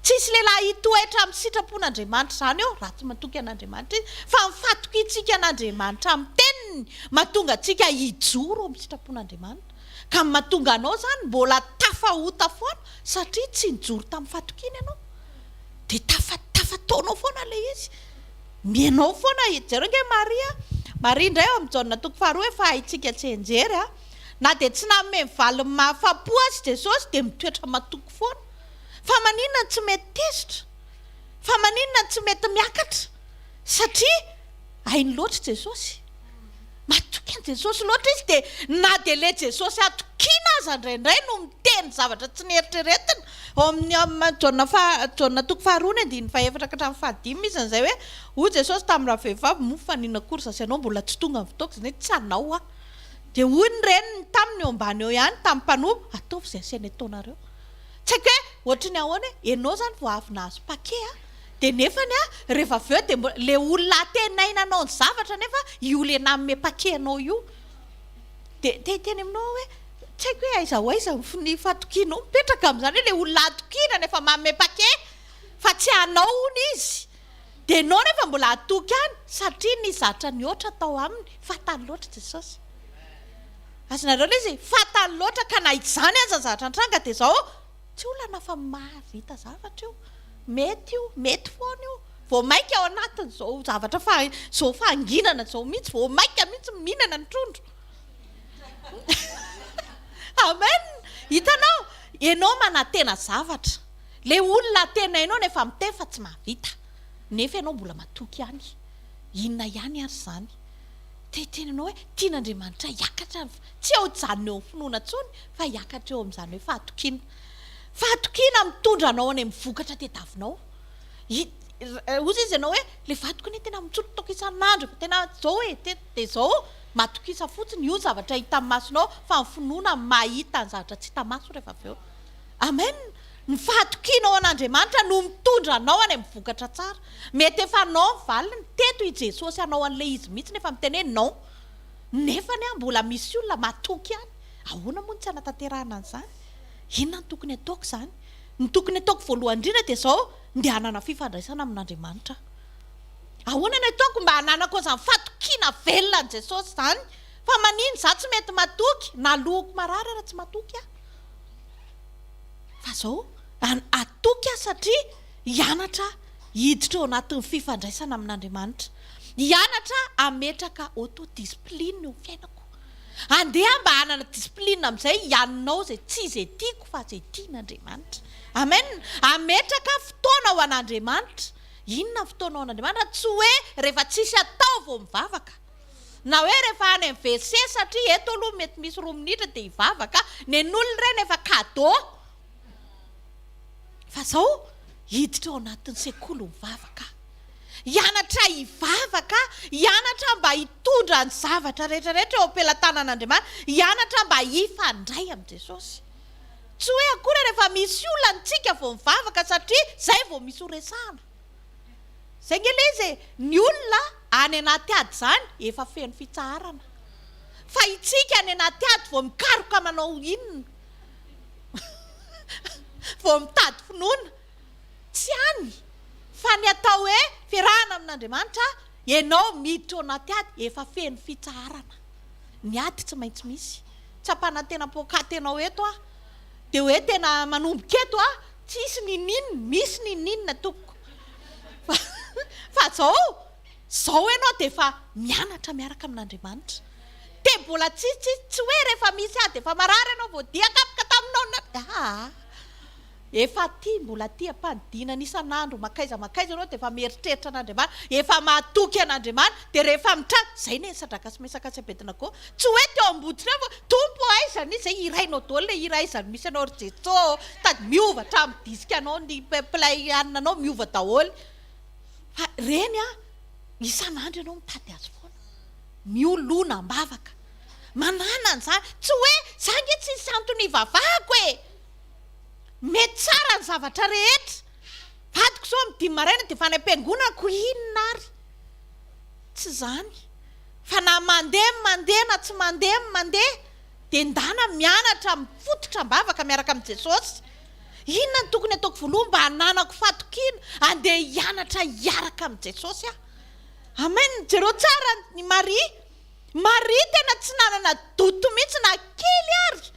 Tsy hisy lehilahy hitoetra amin'ny sitrapon'Andriamanitra izany eo raha tsy matoky an'Andriamanitra izy. Fa ny fatokiantsika an'Andriamanitra amin'ny Teniny mahatonga antsika hijoro amin'ny sitrapon'Andriamanitra. Ka ny mahatonga anao izany mbola tafahota foana satria tsy nijoro tamin'ny fatokiana ianao. Dia tafa tafataonao foana ilay izy. Ny anao foana, jereo nge Maria, Maria indray ao amin'ny Jaona toko faharoa efa haintsika tsianjery a! Na dia tsy nanome ny valiny mahafapo azy Jesosy dia mitoetra matoky foana. Fa maninona no tsy mety tezitra? Fa maninona no tsy mety miakatra? Satria hainy loatra Jesosy. Matoky an'i Jesosy loatra izy dia na dia ilay Jesosy hatokiana aza indraindray no miteny zavatra tsy neritreretina. Ao amin'ny Am. Jaona faha, Jaona toko faharoa ny andininy fahefatra ka hatramin'ny fahadimy misy an'izay hoe, Hoy Jesosy tamin'ny ravehivavy mofo fa nino akory za sy ianao mbola tsy tonga amin'ny fotoako, izany hoe tsy anao aho. Dia hoy ny reniny taminy eo ambany eo ihany, tamin'ny mpanompo, ataovy izay asiany ataonareo. Tsy haiko hoe ohatry ny ahoana hoe, ianao izany vao avy nahazo pake an! Dia nefany a, rehefa avy eo dia mbo, le olona antenaina hanao ny zavatra nefa io le nanome paquet anao io dia te hiteny aminao aho hoe, tsy haiko hoe aiza ho aiza ny ny fatokianao mipetraka amin'izany hoe le olona hatokiana no efa manome paquet fa tsy anao hono izy dia enao nefa mbola hatoky any satria nisy zatra nihoatra tao aminy, fatany loatra Jesosy. Azonareo le izy, fatany loatra ka na izany aza ny zavatra nitranga dia zao, Tsy olana fa mahavita zavatra io. Mety io, mety foana io. Vao mainka ao anatin'izao zavatra fa izao fahanginana izao mihitsy vao mainka mihitsy mihinana ny trondro. Amen. Hitanao, ianao manantena zavatra. Ilay olona antenainao nefa miteny fa tsy mahavita. Nefa ianao mbola matoky ihany. Inona ihany ary izany? Te hiteny anao hoe tian'Andriamanitra hiakatra ny fa, tsy eo hijanona eo amin'ny finoana intsony fa hiakatra eo amin'izany hoe fahatokiana. Fahatokiana mitondra anao any amin'ny vokatra tadiavinao. Hozy izy ianao hoe ilay vadiko anie tena mitsolotoka isan'andro, efa tena izao e, te, dia izao, matokisa fotsiny, io ny zavatra hitan'ny masonao fa ny finoana mahita ny zavatra tsy hita maso rehefa avy eo. Amen! Ny fahatokianao an'Andriamanitra no mitondra anao any amin'ny vokatra tsara. Mety efa anao ny valiny, teto i Jesosy hanao an'ilay izy mihitsy nefa miteny hoe non. Nefany an, mbola misy olona matoky any. Ahoana moa no tsy hanatanterahana an'izany? Inona no tokony hataoko izany? Ny tokony hataoko voalohany indrindra dia izao, ndeha hanana fifandraisana amin'Andriamanitra aho. Ahoana no hataoko mba hananako an'izany fatokiana velona an'i Jesosy izany? Fa maninona izaho tsy mety matoky? Naloako marary raha tsy matoky aho. Fa zao atoky aho satria hianatra hiditra ao anatin'ny fifandraisana amin'Andriamanitra. Hianatra hametraka auto-discipline eo amin'ny fiainako. Andeha aho mba hanana discipline amin'izay hianao izay tsy izay tiako fa izay tian'Andriamanitra. Amen. Hametraka fotoana ho an'Andriamanitra. Inona ny fotoana ho an'Andriamanitra? Tsy hoe rehefa tsisy atao vao mivavaka. Na hoe rehefa any amin'ny WC satria eto aloha mety misy roa minitra dia hivavaka, nen'olona ireny efa cadeau. Fa izao hiditra ao anatin'ny sekoly mivavaka aho. Hianatra hivavaka aho, hianatra mba hitondra ny zavatra rehetra rehetra eo am-pelatanan'Andriamanitra, hianatra mba hifandray amin'i Jesosy. Tsy hoe akory rehefa misy olana isika vao mivavaka satria izay vao misy horesahana. Zay nge le izy e! Ny olona any anaty ady zany efa feno fitsaharana. Fa itsika any anaty ady vao mikaroka manao inona? Vao mitady finoana. Tsy any fa ny atao hoe fiarahana amin'Andriamanitra, ianao miditra ao anaty ady efa feno fitsaharana. Ny ady tsy maintsy misy. Tsy hampanantena poakaty ianao eto aho. Dia hoe tena manomboka eto aho. Tsisy ninin, misy ninin tompoko fa fa zao zao enao de efa mianatra miaraka amin'Andriamanitra de mbola tsisy tsisy tsy hoe rehefa misy ady efa marary enao vao dia kapoka taminao na aa efa tia mbola tia ampanidinana isan'andro makaiza makaiza enao de efa mieritreritra an'Andriamanitra efa mahatoky an'Andriamanitra de rehefa mitranga zay ne sadraka sy mesaka sy abednago Tsy hoe teo amboditrano fa Tompo ô aiza misy zay hirainao daholo le hira aiza no misy anao ry Jeso ô sady miova hatramin'ny disque anao ny play anao miova daholo fa reny an isan'andro ianao mitady azy foana miolona ambavaka manana an'izany tsy hoe za nge tsy nisy antony hivavahako e mety tsara ny zavatra rehetra vadiko zao amin'ny dimy maraina dia efa any am-piangonako inona ary tsy izany Fa na mandeha ny mandeha na tsy mandeha ny mandeha dia ndana mianatra mifototra am-bavaka miaraka amin'i Jesosy. Inona no tokony hataoko voaloha mba hananako fahatokiana handeha hianatra hiaraka amin'i Jesosy aho? Amen! Jereo tsara an'i Maria. Maria tena tsy nanana doute mihitsy na kely ary.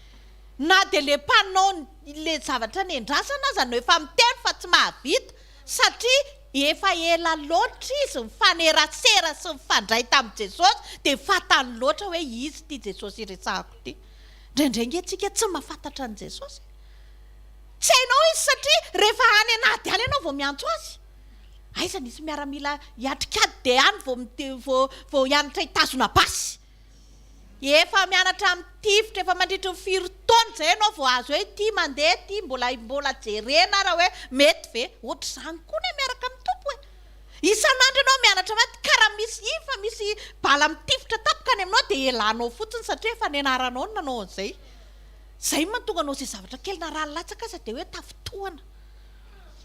Na dia ilay mpanao ilay zavatra nendrasana aza no efa miteny fa tsy mahavita. Satria efa ela loatra izy nifanerasera sy nifandray tamin'i Jesosy dia fantany loatra hoe izy ity Jesosy iresahako ity. Indraindray ange tsika tsy mahafantatra an'i Jesosy e! Tsy hainao izy satria rehefa any an'ady any ianao vao miantso azy. Aiza nisy miaramila hiatrika ady dia any vao vao vao hianatra hitazona basy. Efa mianatra mitifitra efa mandritry ny firy taona izay ianao vao azo hoe ity mandeha ity mbola mbola jerena ary hoe mety ve? Ohatr'izany koa ny miaraka amin'ny Tompo e! Isan'andro ianao mianatra maty ka raha misy iny fa misy bala mitifitra tapaka any aminao dia elanao fotsiny satria efa nianaranao ny nanao an'izay. Izay no mahatonga anao izay zavatra kely na rà latsaka aza dia hoe tafintohana.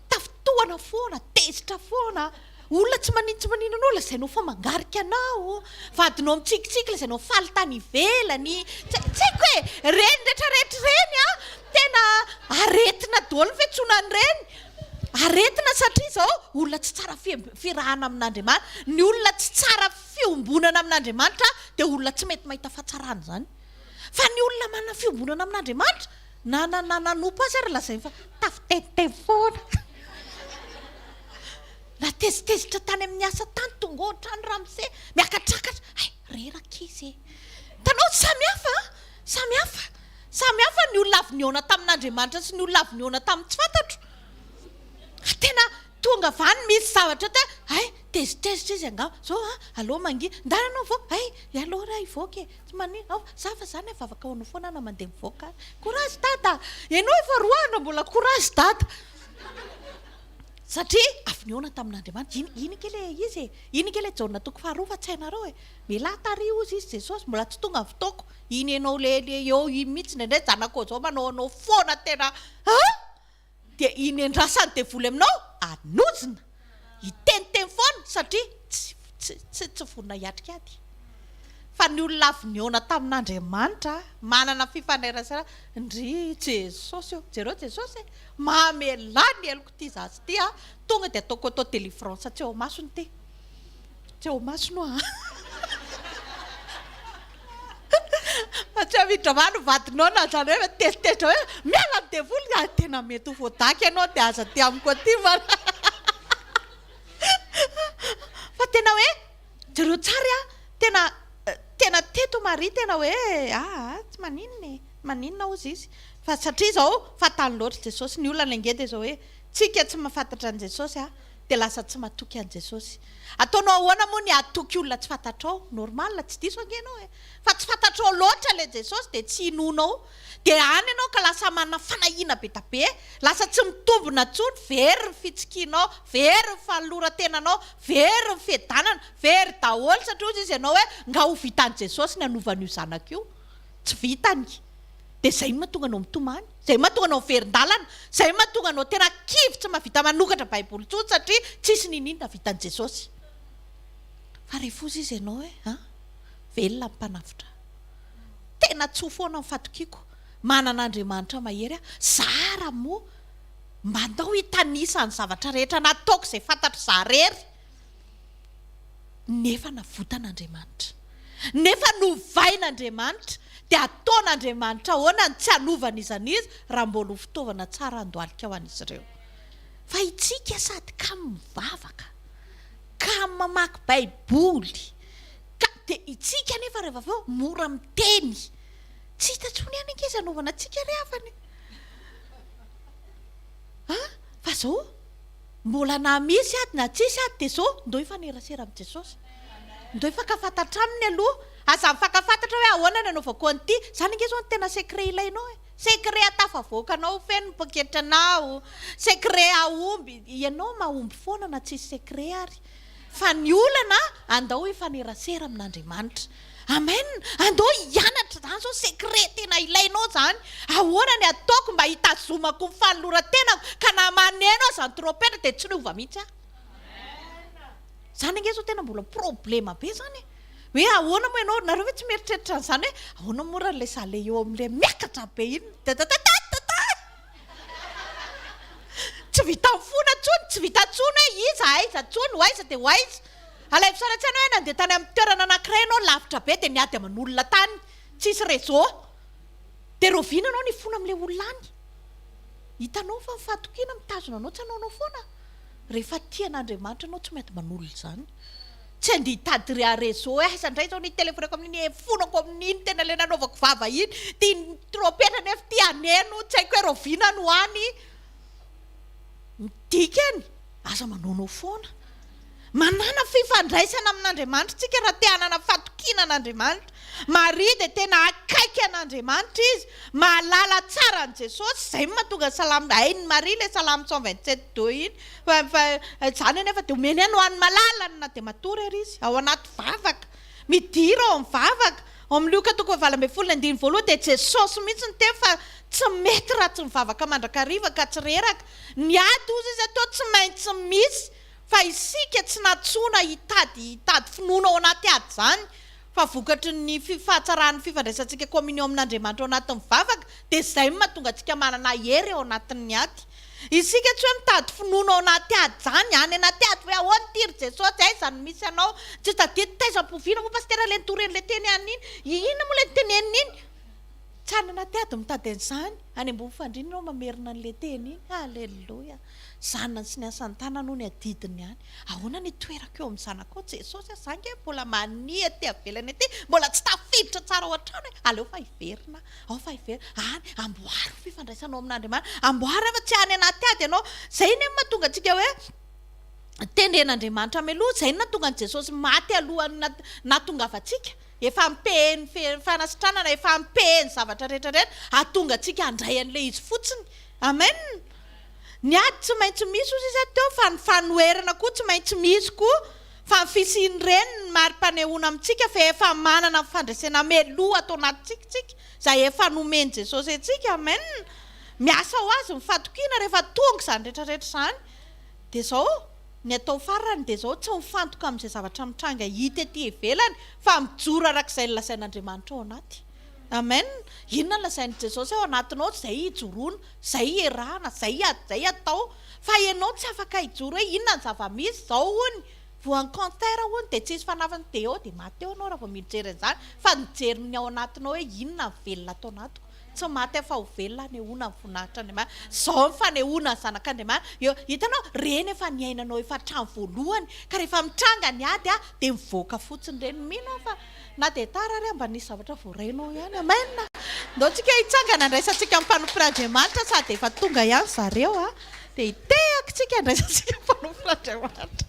Tafintohana foana, tezitra foana, olona tsy maninona tsy maninona anao lazainao fa mangarika anao, vadinao mitsikitsiky lazainao faly tany ivelany, tsy tsy haiko e, ireny rehetra rehetra ireny an, tena aretina daholo ny fiantsoana an'ireny, aretina satria izao olona tsy tsara fiarahana amin'Andriamanitra, ny olona tsy tsara fiombonana amin'Andriamanitra dia olona tsy mety mahita fahatsarana izany, fa ny olona manana fiombonana amin'Andriamanitra, Na na nanompo azy ary lazainy fa tafiteniteny foana. Natezitezitra tany amin'ny asa tany, tonga ao an-trano Ramsey miakatrakatra. Hay, reraka izy e! Hitanao, samy hafa an! Samy hafa! Samy hafa ny olona avy nihaona tamin'Andriamanitra sy ny olona avy nihaona tamin'ny tsy fantatro. Fa tena Tonga va ny misy zavatra te hay, tezitezitra izy angamba zao an, alou mangia, ndana anao vo hay, alou ra hivoaka e, tsy manin, ao za fa za ne vavaka hoanao foana na mandeha mivoaka ary, courage dada, enao efa roa andro mbola courage dada, satria avy nihaona tamin'Andriamanitra, iny iny ike le izy e, iny ike le Jaona toko faharoa fa tsy hainareo e, mialahy tary ozy izy Jesosy mbola tsy tonga ny fotoako, iny enao le le eo iny mihitsy, indraindray zanakao zao manao anao foana tena an! dia iny en-drà sady devoly aminao ary nojona hiteniteny foana satria tsy tsy tsy tsy vonona hiatrika ady fa ny olona avy nihaona tamin'Andriamanitra manana fifaneraserana ndry Jesosy ô jereo Jesosy e mamelà ny heloko ity zaza ity a tonga dia ataoko auto délivrance tsy ao masony ity Tsy ao maso no a. Fa tsy amin'ny drama no vadinao na zany hoe mitezitezitra hoe miala amin'ny devoly raha tena mety ho voadaky ianao dia aza aty amiko aty fa fa tena hoe jereo tsara a tena tena teto Maria tena hoe aa tsy maninona e tsy maninona ozy izy fa satria izao fahatany loatra Jesosy ny olana ange dia izao hoe tsika tsy mahafantatra an'i Jesosy a Dia lasa tsy matoky an'i Jesosy. Ataonao ahoana moa ny hatoky olona tsy fantatrao? Normal, tsy diso ange ianao e! Fa tsy fantatrao loatra ilay Jesosy dia tsy inoanao. Dia any ianao ka lasa manana fanahiana be da be. Lasa tsy mitombina intsony, very ny fitsikianao, very ny fanoloran-tenanao, very ny fiadanana, very daholo satria hozy izy ianao hoe nga ho vitan'i Jesosy ny hanova an'io zanako io? Tsy vitany. Dia izay no mahatonga anao mitomany. Zay mahatonga anao miverin-dalana, zay mahatonga anao terak'ivy tsy mahavita manokatra baiboly intsony satria tsisy niniana vitan'i Jesosy. Fa re foza izy ianao hoe a! velona ny mpanavotra ahy. Tena tsoa foana ny fatokiako, manana Andriamanitra mahery aho, za ara moa mba andao hitanisa ny zavatra rehetra nataoko izay fantatr'izaho rery. Nefa navotan'Andriamanitra. Nefa novain'Andriamanitra. Dia ataon'Andriamanitra ahoana ny tsy hanovany iza n'iza raha mbola ho fitaovana tsara handohalika ho an'izy ireo? Fa isika sady kamo mivavaka, kamo mamaky Baiboly, ka, dia isika anefa rehefa avy eo mora miteny. Tsy hita intsony ihany ange izay anaovanantsika ry havana e! An? Fa izao, Mbola na misy ady na tsisy ady dia zao ndao hifanerasera amin'i Jesosy. Ndao hifankafantatra aminy aloha. Aza mifankafantatra hoe ahoana ny anaovako an'ity. Izany ange izao no tena secret ilainao e. Secret atafavoakanao ho feno ny poketra anao. Secret hahomby. Ianao mahomby foana na tsisy secret ary. Fa ny olana, andao hifanerasera amin'Andriamanitra. Amen, andao hianatra izany izao secret tena ilainao izany, ahoana ny ataoko mba hitazomako ny fanoloran-tenako ka na maneno aza ny trompetra dia tsy niova mihitsy aho. Izany ange izao tena mbola problema be izany e. Hoe ahoana moa ianao, nareo ve tsy mieritreritra an'izany hoe ahoana moa raha ilay zale eo amin'ilay miakatra be iny, dadadadadada. Tsy vitan'ny fona intsony, tsy vita intsony hoe iza, aiza intsony, ho aiza dia ho aiza. Alaivo sary an-tsaina hoe nandeha tany amin'ny toerana anankiray ianao lavitra be dia niady aman'olona tany, tsy hisy réseau. Dia raoviana ianao nifona amin'ilay olona any? Hitanao fa ny fahatokiana mitazona anao tsy hanaonao foana? Rehefa tia an'Andriamanitra ianao tsy mety manolo izany. Tsy andeha hitady ry Arezzo eh, zandray zao nitelefonako amin'iny efonako amin'iny tena le nanaovako vava iny, tian'ny trompetra nefa ty haneno, tsy haiko hoe raoviana no any ny dikany, aza manaonao foana. Manàna fifandraisana amin'Andriamanitra isika raha te hanana fatokiana an'Andriamanitra. Maria dia tena akaiky an'Andriamanitra izy, mahalala tsara an'i Jesosy, izay no mahatonga salamo, hain'i Maria ilay salamo cent vingt sept deux iny, Fa fa izany anefa dia omeny aina ho an'ny malalany na dia matory ary izy, ao anaty vavaka. Midira ao amin'ny vavaka. Ao amin'ny Lioka toko fahavalo ambin'ny folo ny andininy voalohany dia Jesosy mihitsy no teny fa tsy mety raha tsy mivavaka mandrakariva ka tsy reraka. Ny ady hozy izy atoa tsy maintsy misy fa isika tsy nantsoina hitady hitady finoana ao anaty ady izany. fa vokatry ny fi fahatsaran'ny fifandraisantsika communion amin'Andriamanitra ao anatin'ny vavaka dia izay no mahatonga antsika manana hery ao anatin'ny ady. Isika tsy hoe mitady finoana ao anaty ady izany, any anaty ady hoe ahoana ity ry Jesosy, aiza no misy anao, tsy tadidy taiza ampoviana moa pasitera ilay nitoreny ilay teny any iny, i inona moa ilay niteneniny iny, tsy any anaty ady mitady an'izany, any ambony fandriana ireo mamerina an'ilay teny iny, aleloia, zanany sy ny asan'ny tanany hono ny adidiny any. Ahoana ny toerako eo amin'ny zanakao ô Jesosy a, za nge mbola mania aty avelany aty, mbola tsy tafiditra tsara ao an-trano e, aleo fa hiverina aho fa hiverina any, amboary ny fifandraisanao amin'Andriamanitra, amboary aho fa tsy any anaty ady ianao, zay ny mahatonga antsika hoe tendren'Andriamanitra mialoha, zay ny nahatonga an'i Jesosy maty alohan'ny nahatongavantsika, efa ampehen'ny fanasitranana, efa ampehen'ny zavatra rehetra rehetra, hahatonga antsika handray an'ilay izy fotsiny, amen. Ny ady tsy maintsy misy hoy sisa teo fa ny fanoherana koa tsy maintsy misy koa fa ny fisian'ireny no mari-panehoana amintsika fa efa manana ny fandresena mialoha ato anatintsika isika izay efa nomen'i Jesosy antsika. Amen! Miasa ho Azy ny fatokiana rehefa tonga izany rehetra rehetra izany dia izao ny atao farany dia izao tsy mifantoka amin'izay zavatra mitranga hita ety ivelany fa mijoro araka izay nolazain'Andriamanitra ao anaty. Amen! Inona no lazain'i Jesosy ao anatinao izay hijoroana. Zay iarahana, zay iady, zay atao fa enao tsy afaka hijoro hoe inona ny zava-misy, zao hono voan'ny concert hono dia tsisy fanafany dia eo dia maty eo enao raha vao mijery an'izany fa mijery ny ao anatinao hoe inona ny velona ato anatiko, tsy maty aho fa ho velona anehoana ny voninahitr'Andriamanitra, zao ny fanehoana ny zanak'Andriamanitra eo, hitanao reny efa niainanao efa hatrany voalohany ka rehefa mitranga ny ady dia mivoaka fotsiny reny, mino aho fa. Na dia tara ary mba nisy zavatra voarenao ihany. Amen! Ndao tsika hitsangana handraisantsika ny fanoforan'Andriamanitra sady efa tonga ihany zareo a! Dia hitehaky tsika handraisantsika ny fanoforan'Andriamanitra.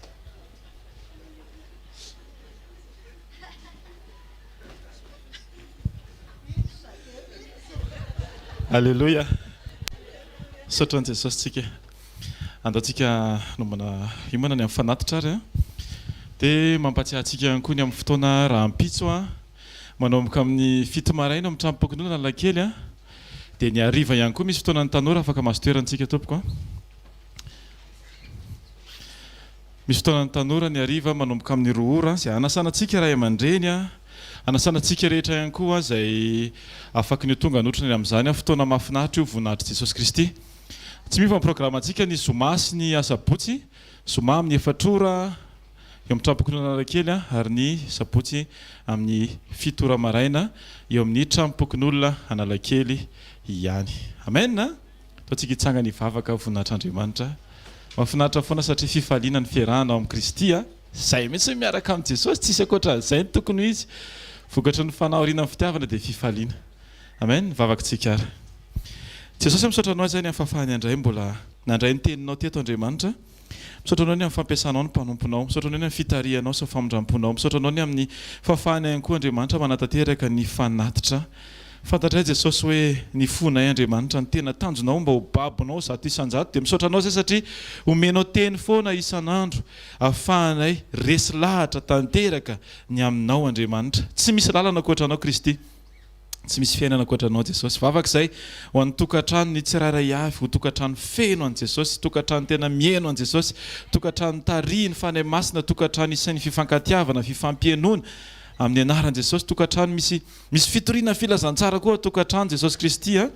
Aleloia! Misaotra an'i Jesosy tsika. Andao tsika hanombana hiomana ny amin'ny fanatitra ary a. Dia mampatsiahy antsika ihany koa ny amin'ny fotoana rahampitso a. Manomboka amin'ny fito maraina ao amin'ny tranom-pikonoana Analakely a. Dia ny hariva ihany koa misy fotoana ny tanora afaka mason-toerana tsika tompoko a. Misy fotoana ny tanora ny hariva manomboka amin'ny roa ora izay hanasana antsika ray aman-dreny a. Hanasana antsika rehetra ihany koa izay afaky ny ho tonga hanotrona ny amin'izany a. Fotoana mahafinaritra io voninahitr'i Jesosy Kristy. Tsy miova ny programantsika ny zoma sy ny asabotsy, zoma amin'ny efatra ora eo amin'ny trano-pokonolona Analakely ary ny sabotsy amin'ny fito ora maraina eo amin'ny trano-pokonolona Analakely ihany. Amen a! Ataontsika hitsangana hivavaka voninahitra Andriamanitra. Mahafinaritra foana satria fifaliana ny fiarahana ao amin'i Kristy a! Izay mihitsy ny miaraka amin'i Jesosy, tsisy ankoatran'izay ny tokony ho izy. Vokatry ny fanahoriana amin'ny fitiavana dia fifaliana. Amen, vavaka tsika ary. Jesosy a misaotra anao izay ny hafahafahany andray mbola nandray ny teninao teto Andriamanitra, misaotra anao ny amin'ny fampiasanao ny mpanomponao, misaotra anao ny amin'ny fitarihanao sy ny famindramponao, misaotra anao ny amin'ny fahafahana ihany koa Andriamanitra manatanteraka ny fanatitra, fantatray Jesosy hoe ny fonay Andriamanitra ny tena tanjonao mba ho babonao zato isanjato dia misaotra anao izay satria omenao teny foana isan'andro afahanay resy lahatra tanteraka ny aminao Andriamanitra tsy misy lalana ankoatra anao Kristy Tsy misy fiainana ankoatra Anao Jesosy. Vavaka izay ho an'ny tokantranon'ny tsirairay avy, ho tokantrano feno an'i Jesosy, tokantrano tena miheno an'i Jesosy, tokantrano tarihin'ny Fanahy Masina, tokantrano isain'ny fifankatiavana, fifampienoana amin'ny Anaran'i Jesosy, tokantrano misy misy fitoriana filazantsara koa tokantrano Jesosy Kristy a!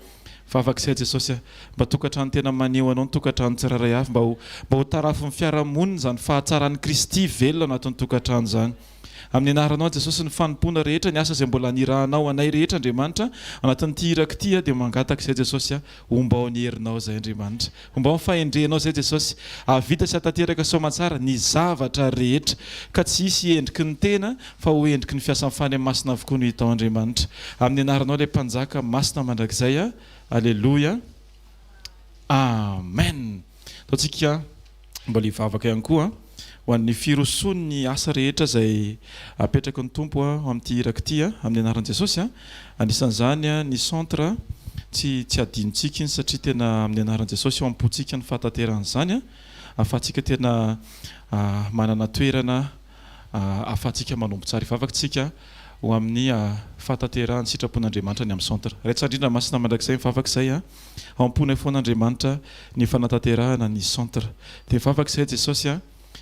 Vavaka izay Jesosy a! Mba tokantrano tena maneho Anao ny tokantranon'ny tsirairay avy, mba ho mba ho tarafin'ny fiarahamonina izany fahatsaran'i Kristy velona ao anatin'ny tokantrano izany. Amin'ny anaranao Jesosy ny fanompoana rehetra ny asa izay mbola nirahanao anay rehetra Andriamanitra anatin'ity iraka ity aho dia mangataka izay Jesosy a ombao ny herinao izay Andriamanitra ombao ny fahendrenao izay Jesosy ahavita sy atanteraka soamantsara ny zavatra rehetra ka tsy hisy endriky ny tena fa ho endriky ny fiasan'ny fanahy masina avokoa no hitao Andriamanitra amin'ny anaranao ilay mpanjaka masina mandrakizay a aleloia amen ataontsika Mbola hivavaka ihany koa ho an'ny firosoan'ny asa rehetra izay apetraky ny Tompo aho amin'ity iraka ity, amin'ny anaran'i Jesosy. Anisan'izany ny centre, tsy tsy hadinontsika iny satria tena amin'ny anaran'i Jesosy ao am-pontsika ny fahatanterahana izany ahafahantsika tena manana toerana ahafahantsika manompo tsara. Hivavaka isika ho amin'ny fahatanterahan'ny sitrapon'Andriamanitra ny amin'ny centre. Raintsika Andriana masina mandrakizay mivavaka izay. Amponay foana Andriamanitra ny fanatanterahana ny centre. Dia vavaka izahay Jesosy a,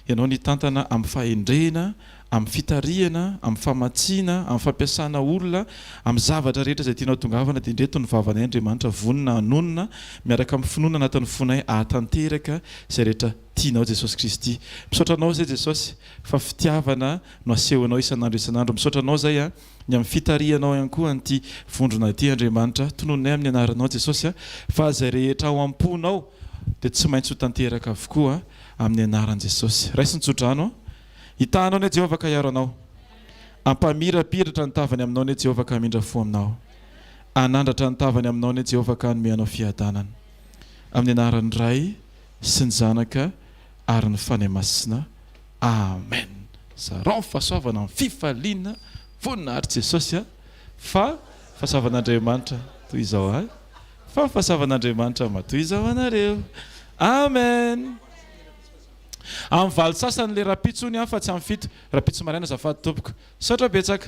Ianao ny hitantana amin'ny fahendrena, amin'ny fitarihana, amin'ny famatsiana, amin'ny fampiasana olona, amin'ny zavatra rehetra izay tianao tongavana dia ndreto ny vavanay Andriamanitra vonona hanonona miaraka amin'ny finoana anatin'ny fonay ahatanteraka izay rehetra tianao Jesosy Kristy. Misaotra Anao izay Jesosy fa fitiavana no asehonao isan'andro isan'andro. Misaotra Anao izay a. ny amin'ny fitarihanao ihany koa an'ity vondrona ity Andriamanitra, tononinay amin'ny anaranao Jesosy a, fa izay rehetra ao am-ponao dia tsy maintsy ho tanteraka avokoa amin'ny anaran'i Jesosy. Raiso ny tsodrano a. Hitahanao anie Jehovah ka hiaro anao. Hampamirapiratra ny tavany aminao anie Jehovah ka hamindra fo aminao. Hanandratra ny tavany aminao anie Jehovah ka hanome anao fiadanana. Amin'ny anaran'ny Ray sy ny Zanaka ary ny Fanahy Masina. Amen. Zarao ny fahasoavana amin'ny fifaliana voninahitry Jesosy a! Fa ny fahasoavan'Andriamanitra toy izao ahy, fa ny fahasoavan'Andriamanitra matoa izao anareo. Amen. Amin'ny valo sasany le rapitso ony an fa tsy amin'ny fito rapitso maraina azafady tompoko. Misaotra betsaka.